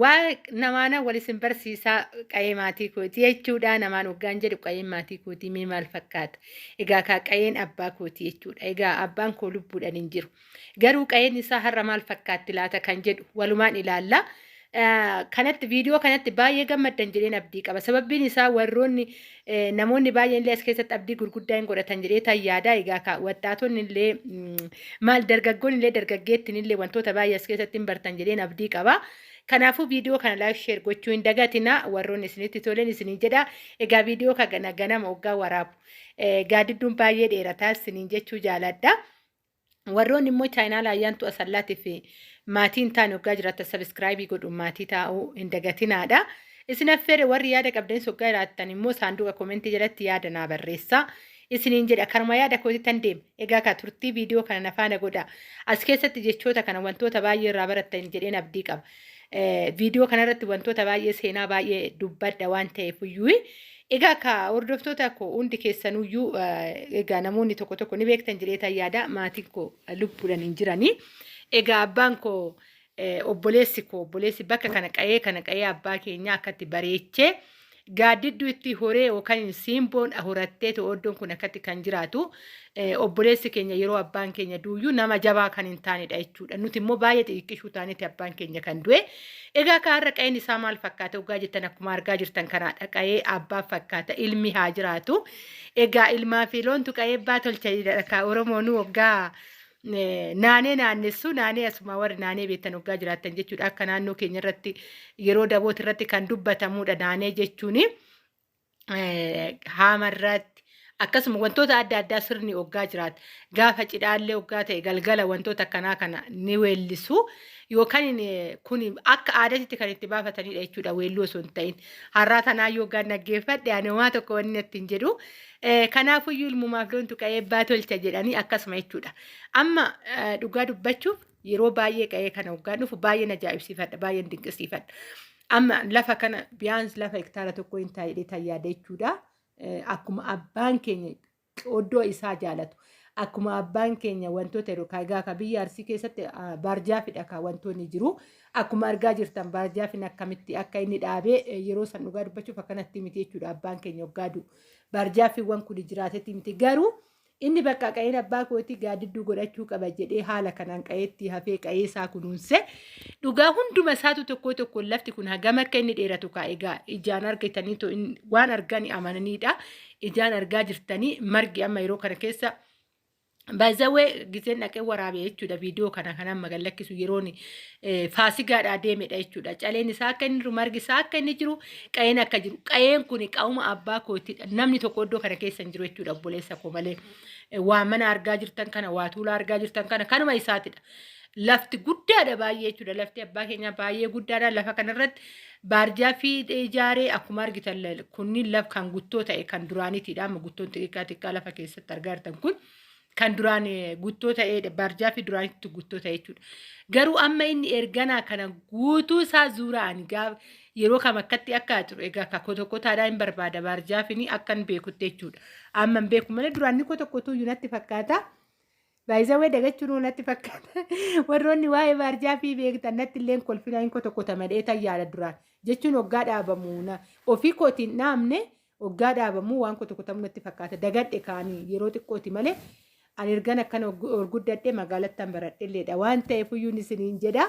Waa namaana wal isin barsiisaa qa'ee maatii kooti jechuudha. Namaan waggaan jedhu qa'een maatii kooti mee maal fakkaata? Egaa kaa qa'een abbaa kooti jechuudha. Egaa abbaan koo lubbuudhaan hin jiru. Garuu qa'een isaa har'a maal fakkaatti laata kan jedhu walumaan ilaalla. Kanatti viidiyoo kanatti baay'ee gammaddan jedheen abdii qaba. Sababbiin isaa warroonni Namoonni baay'een illee as keessatti abdii gurguddaa hin godhatan jedhee tan yaadaa egaa ka waxxaatonni illee maal dargaggoon illee dargaggeettiin illee wantoota baay'ee as keessatti hin bartan jedheen abdii qaba. Kanaafuu viidiyoo kana laayik sheer gochuu hin dagatina warroonni isinitti toleen isiniin jedha egaa viidiyoo kana ganama oggaa waraabu gaadidduun baay'ee dheerataa isiniin jechuu jaaladha. Warroonni immoo chaayinaala ayyaantuu asallaatiif maatii hin taane hoggaa jiraattan sabiskiraayibii godhuun maatii taa'uu hin dagatinaadha. Isin affeere warri yaada qabdanis hoggaa jiraattan immoo saanduqa komentii jalatti yaada naa barreessa. Isiniin jedha karuma yaada kootii tan deema. Egaa kaa turtii viidiyoo kana na faana godha. As keessatti jechoota kana wantoota baay'ee irraa barattan jedheen abdii qaba. Viidiyoo kanarratti wantoota baay'ee seenaa baay'ee dubbadha waan ta'eef iyyuu Egaa akka hordoftoota koo hundi keessanuyyuu egaa namoonni tokko tokko ni beektan jireetan yaada maatiin koo lubbuudhan hin jiranii. Egaa abbaan koo obboleessi koo obboleessi bakka kana qa'ee kana qa'ee abbaa keenyaa akkatti bareechee gaaddidduu itti horee yookaan simboon horattee to'oddoon kun akkatti kan jiraatu obboleessi keenya yeroo abbaan keenya duuyyuu nama jabaa kan hin taanedha jechuudha. Nuti immoo baay'ee xixiqqishuu taaneeti abbaan keenya kan du'e. Egaa akka har'a qa'een isaa maal fakkaata ogaa jettan akkuma argaa jirtan kanaadha. Qa'ee abbaa fakkaata ilmi haa jiraatu. Egaa ilmaa fi loontu qa'ee abbaa tolcha jedha kaa Oromoonuu oggaa naanee naannessu naanee asuma warri naanee beektan oggaa jiraattan jechuudha. Akka naannoo keenya irratti yeroo dabooti irratti kan dubbatamudha naanee jechuuni. haamarratti akkasuma wantoota adda addaa sirni oggaa jiraata. Gaafa cidhaallee oggaa ta'e galgala wantoota akkanaa kana ni weellisu. Yookaan kun akka aadaatti kan itti baafatanidha jechuudha weelluu osoo hin ta'in. Har'aa tanaa yoo gaan dhaggeeffadhe ani homaa tokko wanni natti hin jedhu. Kanaafuyyuu ilmumaaf loontu qa'ee eebbaa tolcha jedhanii akkasuma jechuudha. Amma dhugaa dubbachuuf yeroo baay'ee qa'ee kana hoggaan dhufu baay'een ajaa'ibsiifadha baay'een dinqisiifadha. Amma lafa kana biyyaans lafa hektaara tokko hin taa'ee tayyaada jechuudha. Eh, Akkuma abbaan keenya oddoo isaa jaalatu akkuma abbaan keenya wantoota yeroo kaagaa ka biyya arsii keessatti ah, baarjaafidha ka wantoonni jiru. Akkuma argaa jirtan baarjaafiin akkamitti akka inni dhaabee eh, yeroo san dhugaa dubbachuuf akkanatti miti jechuudha abbaan keenya hoggaa du'u. Baarjaafiiwwan kun jiraatetti miti garuu Inni bakka qa'een abbaa kootii gaaddidduu godhachuu qaba jedhee haala kanaan qa'eetti hafee qa'ee isaa kunuunse. Dhugaa hunduma isaatu tokkoo tokkoon lafti kun hagam akka inni dheeratu kaa egaa ijaan argitanii too in- waan argani amananiidha. Ijaan argaa jirtanii margi amma yeroo kana keessa Baay'izawwee giseen dhaqee waraabee jechuudha viidiyoo kana kan amma gad lakkisu yeroon eh, faasigaadhaa deemedha jechuudha. Caleen isaa akka inni jiru margi isaa akka inni jiru Qa'een akka jiru qa'een kun qa'uma abbaa kootiidha. Namni tokko iddoo kana keessa hin jiru jechuudha obboleessa koo malee. Eh, Waa mana argaa jirtan kana waa tuulaa argaa jirtan kana kanuma isaatidha. Lafti guddaadha baay'ee jechuudha. Lafti abbaa keenyaa baay'ee guddaadha. Lafa kanarratti baarjaa fi ijaaree akkuma argitan la- kunniin laf kan guttoo ta'e kan duraaniitidha. Amma guttoon xixiqqaa xiqqaa lafa keessatti argaa jirtan kun. kan duraan guttoo ta'eedha. Baarjaafi duraan itti guttoo ta'e jechuudha. Garuu amma inni erganaa kana guutuu isaa zuuraan gaaf yeroo kam akkatti akka jiru egaa akka kotokotaadhaa hin barbaada baarjaafini akkan beekutti jechuudha. Amma hin beeku malee duraan ni kotokotuu iyyuu natti fakkaata. Baay'isawwee dagachuun natti fakkaata. Warroonni waa'ee baarjaafii beektan natti illee kolfinaa hin kotokota malee tayyaadha duraan. Jechuun hoggaa dhaabamu ofii kootiin dhaabne Oggaa dhaabamuu waan kutu kutamu natti fakkaata. Dagadhe kaanii yeroo xiqqooti malee ani ergan akkana og- ol guddadhe magaalattan baradhelleedha. Waan ta'eef iyyuu ni isiniin jedha.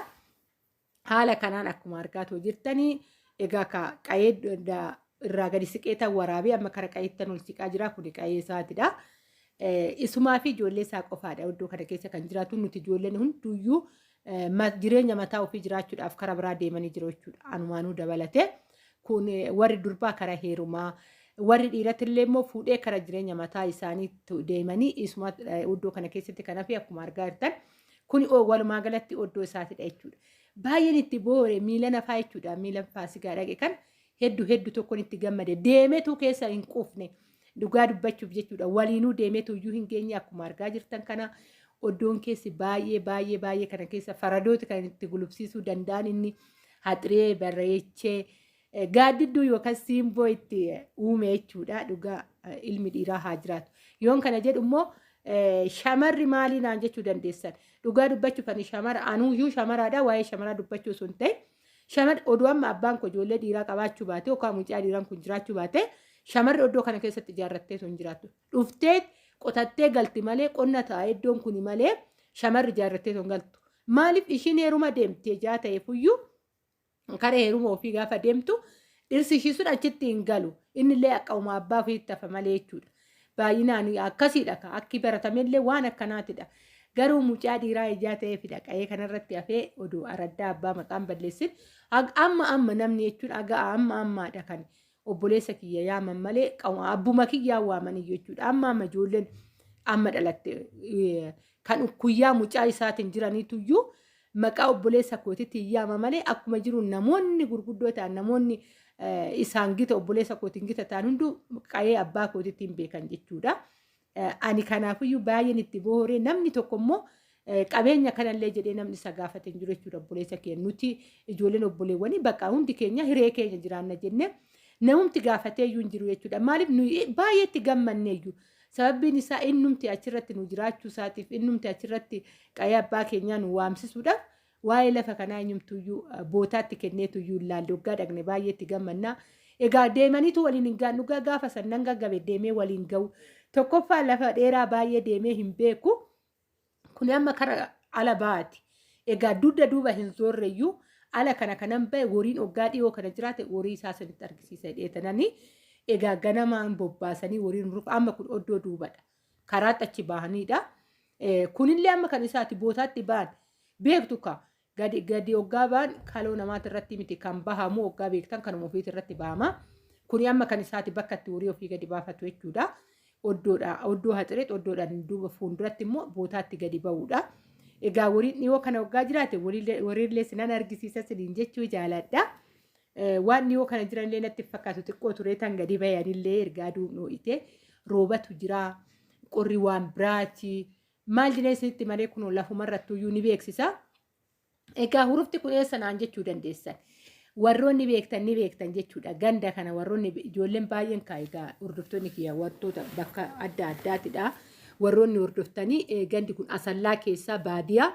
Haala kanaan akkuma argaatoo jirtanii egaa ka qayee d- da- irraa gadi siqee tan waraabee amma kara qayeettan ol siqaa jira kuni qayee isaatidha. Eh, Isumaa fi ijoollee isaa qofaadha iddoo kana keessa kan jiraatu nuti ijoolleen hunduyyuu jireenya mataa ofii jiraachuudhaaf kara biraa deemanii jiru jechuudha. Anumaanuu dabalatee kun warri durbaa kara heerumaa warri dhiiratillee immoo fuudhee kara jireenya mataa isaanii deemanii isuma iddoo kana keessatti kan hafe akkuma argaa jirtan kun walumaa galatti oddoo isaatidha jechuudha. Baay'een itti boore miila nafaa jechuudha miila faasigaa dhaqe kan heddu heddu tokkon itti gammade deemetuu keessa hin quufne dhugaa dubbachuuf jechuudha waliinuu deemetuu iyyuu hin geenye akkuma argaa jirtan kana oddoon keessi baay'ee baay'ee baay'ee kana keessa faradooti kan itti gulubsiisuu danda'an inni haxiree barreechee eh, gaaddidduu yookaan siimboo itti eh, uume jechuudha dhugaa eh, ilmi dhiiraa haa jiraatu yoon kana jedhu immoo eh, shamarri maalii naan jechuu dandeessan dhugaa dubbachuuf ani shamara anuu iyyuu shamaraadha waa'ee shamaraa dubbachuu sun ta'e Shamarri odoo amma abbaan koo ijoollee dhiiraa qabaachuu baatee yookaan mucaa dhiiraan kun jiraachuu baatee shamarri oddoo kana keessatti ijaarrattee sun jiraattu. Dhuftee qotattee galti malee qonna ta'a iddoon kuni malee shamarri ijaarrattee sun galtu. Maaliif ishiin heeruma deemti ejaa ta'e fuyyuu karee heeruma ofii gaafa deemtu dhirsi ishii sun achitti hin galu. Inni illee akka uumaa abbaa ofiitti hafa malee jechuudha. Baay'inaanii akkasiidha ka akki baratamellee waan akkanaatidha. Garuu mucaa dhiiraa ijaa ta'eefidha qa'ee kanarratti hafee oduu araddaa abbaa maqaan balleessin amma amma namni jechuun aga amma ammaadha kan obboleessa kiyya yaaman malee abbuma kiyyaa waamaniyyu jechuudha amma amma ijoolleen amma dhalatte kan ukkuyyaa mucaa isaatiin jiraniituyyuu Maqaa obboleessa kootiitiin yaama malee akkuma jiru namoonni gurguddoo ta'an namoonni isaan gita obboleessa kootiin gita ta'an hunduu qa'ee abbaa kootiitiin beekan jechuudha. Ani kanaafiyyuu baay'een itti booree namni tokko immoo qabeenya kanallee jedhee namni isa gaafate hin jiru jechuudha obboleessa keenya. Nuti ijoolleen obboleewwanii bakka hundi keenya hiree keenya jiraanna jennee namumti gaafatee iyyuu hin jiru jechuudha. Maaliif nuyi baay'ee itti gammanne iyyuu Sababbiin isaa innumti achirratti nu jiraachuu isaatiif innumti achirratti qa'ee abbaa keenyaa nu waamsisuudhaaf waa'ee lafa kanaa eenyumtuyyuu eh, bootaatti kenneetuyyuu hin laalle waggaa dhaqne baay'eetti gammannaa. Egaa deemaniitu waliin hin gahan dhugaa gaafa san nan gaggabe deemee waliin gahu. Tokkoffaa lafa dheeraa baay'ee deemee hin beeku. Kuni amma kara ala baati. Egaa dudda duuba hin zoorreyyuu ala kana kanan bahe woriin oggaa dhiyoo kana jiraate worii isaa sanitti argisiisa dheetananii egaa ganamaan bobbaasanii woriin rufa amma kun oddoo duubadha. Karaatti achi bahanidha. Kunillee amma kan isaati bootaatti ba'an beektu ka Gadi gadi hoggaa ba'an kaloo namaati irratti miti kan bahamu hoggaa beektan kanuma ofiiti irratti bahama. Kuni amma kan isaati bakka itti horii ofii gadi baafatu jechuudha. Oddoodha. Oddoo haxireet oddoodhaan duuba fuulduratti immoo bootaatti gadi ba'uudha. Egaa wariin dhiyoo kana hoggaa jiraate waliillee- wariillee sinan argisiisa siniin jechuu jaaladha. Eh, Waan dhiyoo kana jiranillee natti hin fakkaatu xiqqoo turee tan gadi bayanillee erga aduun dhoo'ite roobatu jira. Qorri waan biraati. Maal jedhee isinitti himaree kunoo lafumarrattuyyuu ni beeksisa. Egaa hurufti kun eessa naan jechuu dandeessan. Warroonni beektan ni beektan jechuudha. Ganda kana warroonni be- ijoolleen baay'een kaa egaa hordoftoonni kiyya wantoota bakka adda addaatidha. Warroonni hordoftanii eh, gandi kun asallaa keessaa baadiyaa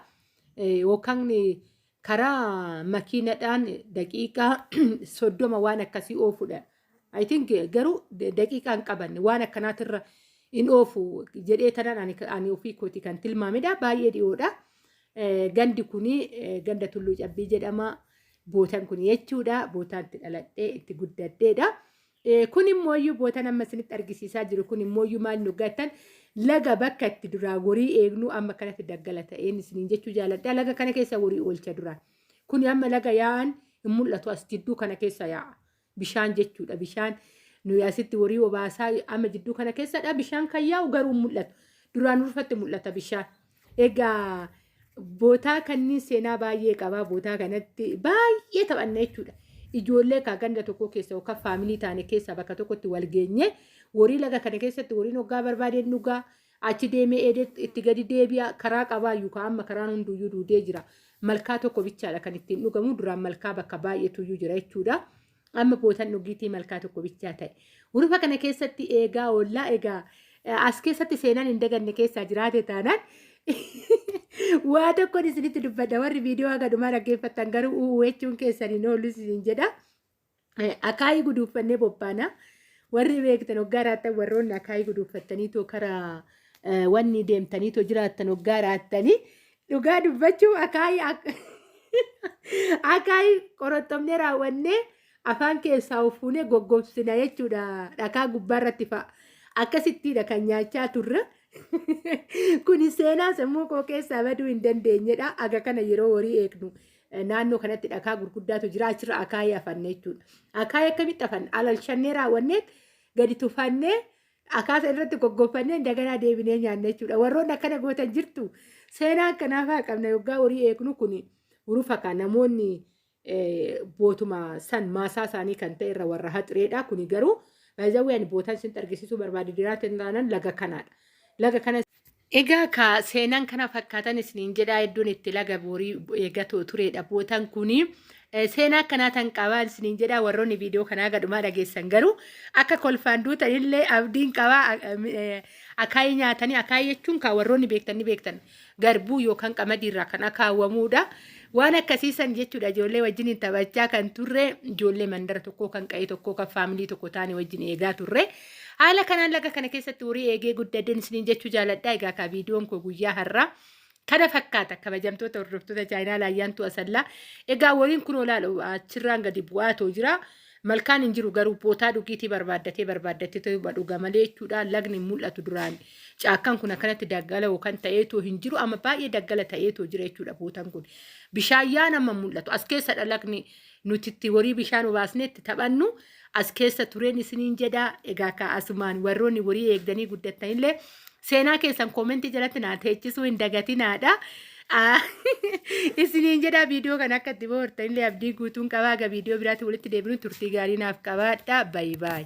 eh, yookaan eh, karaa makiinadhaan daqiiqaa soddoma waan akkasii oofudha. I think garuu daqiiqaa hin qabanne waan akkanaatirra hin oofu jedhee tanan ani ani ofii kooti kan tilmaamedha baay'ee dhiyoodha. Eh, Gandi kuni eh, ganda Tulluu Cabbii jedhama. Bootan kuni jechuudha. Bootaan itti dhaladhee itti guddadheedha. Ee, kun immooyyuu bootan amma isinitti argisiisaa jiru kun immooyyuu maal nu gattan laga bakka itti duraa gorii eegnuu amma kanatti daggala ta'een isiniin jechuu jaaladha laga kana keessa gorii oolcha duraan kun amma laga yaa'an hin mul'atu as jidduu kana keessa yaa'a bishaan jechuudha bishaan nuyi asitti gorii obaasaa amma jidduu kana keessadha bishaan kan yaa'u garuu hin mul'atu duraan urfatti mul'ata bishaan Egaa bootaa kanniin seenaa baay'ee qabaa bootaa kanatti baay'ee taphanna jechuudha. Ijoollee kaa ganda tokkoo keessa yookaan faamilii taane keessaa bakka tokkotti wal geenye warii laga kana keessatti wariin hoggaa barbaadeen dhugaa achi deemee eedee itti gadi deebi'a karaa qabaayyuu kaa amma karaan hunduyyuu duudee jira. Malkaa tokko bichaadha kan ittiin dhugamu duraan malkaa bakka baay'eetuyyuu jira jechuudha. Amma bootan dhugiitii malkaa tokko bichaa ta'e. Hurufa kana keessatti eegaa oollaa egaa eh, as keessatti seenaan hin daganne keessaa jiraate taanaan waa tokkoon isinitti dubbadha warri viidiyoo haga dhumaa dhaggeeffattan garuu uuu jechuun keessan hin oolu isin jedha. Eh, Akaayii guduuffannee bobbaana. Warri beektan hoggaa raattan warroonni akaayii guduuffattaniitoo karaa eh, wanni deemtaniitoo jiraattan hoggaa raattanii Dhugaa dubbachuuf akaayii ak- akaayii qorottomnee raawwannee afaan keessaa uffuunee goggobsina jechuudha dhakaa gubbaa irratti fa'a. Akkasittiidha kan nyaachaa turre. Kuni seenaa sammuu koo keessaa baduu hin dandeenyedha. Aga kana yeroo horii eegnu eh, naannoo kanatti dhakaa gurguddaatu jira achirra akaayii afanne jechuudha. Akaayii akkamitti afanne? Alalshannee raawwannee gadi tufannee akaasa irratti goggofannee daganaa deebinee nyaanna jechuudha. Warroonni akkana gootan jirtu seenaa akkanaafaa qabna yoggaa horii eegnu kun urufa kan namoonni bootuma san maasaa isaanii kan ta'e irra warra haxireedha. Kuni garuu baay'ee ani bootan sin argisiisuu barbaade diraatiin taanan laga kanaadha. Laga kana Egaa kaa seenan kana fakkaatan isiniin jedhaa hedduun itti laga boorii eega tureedha bootan kuni seenaa akkanaa tan qabaan isiniin jedhaa warroonni viidiyoo kanaa gadhumaa dhageessan garuu akka kolfaan duutan illee abdiin qabaa akaayii nyaatanii akaayii jechuun kaa warroonni beektan ni beektan garbuu yookaan qamadii irraa kan akaawwamuudha waan akkasii san jechuudha ijoollee wajjin taphachaa kan turre ijoollee mandara tokkoo kan qa'ee tokkoo kan faamilii tokko taane wajjin eegaa turre. Haala kanaan laga kana keessatti horii eegee guddadeen isiniin jechuu jaaladha. Egaa kaa viidiyoon koo guyyaa har'aa kana fakkaata kabajamtoota hordoftoota chaayinaa laayyaantuu asallaa. Egaa waliin kun olaal achirraan gadi bu'aa too jira. Malkaan hin jiru garuu bootaa dhugiitii barbaaddatee barbaaddatee ta'uma dhuga malee jechuudha. Lagni hin mul'atu duraan caakkaan kun akkanatti daggala yookaan ta'ee too hin jiru amma baay'ee daggala ta'ee too jira jechuudha bootaan kun. Bishaan yaan amma hin mul'atu as keessadha lagni nuti itti horii bishaan obaasnee itti taphannu as keessa tureen isiniin jedha. Egaa kaa asumaan warroonni horii eegdanii guddattanillee seenaa keessan koomentii jalatti naa teechisuu hin dagatinaadha. Ah, Isiniin jedha viidiyoo kana akka itti bohaartanillee abdii guutuun qabaa. Egaa viidiyoo biraatti walitti deebinuun turtii gaarii naaf qabaadha. Bayi bayi.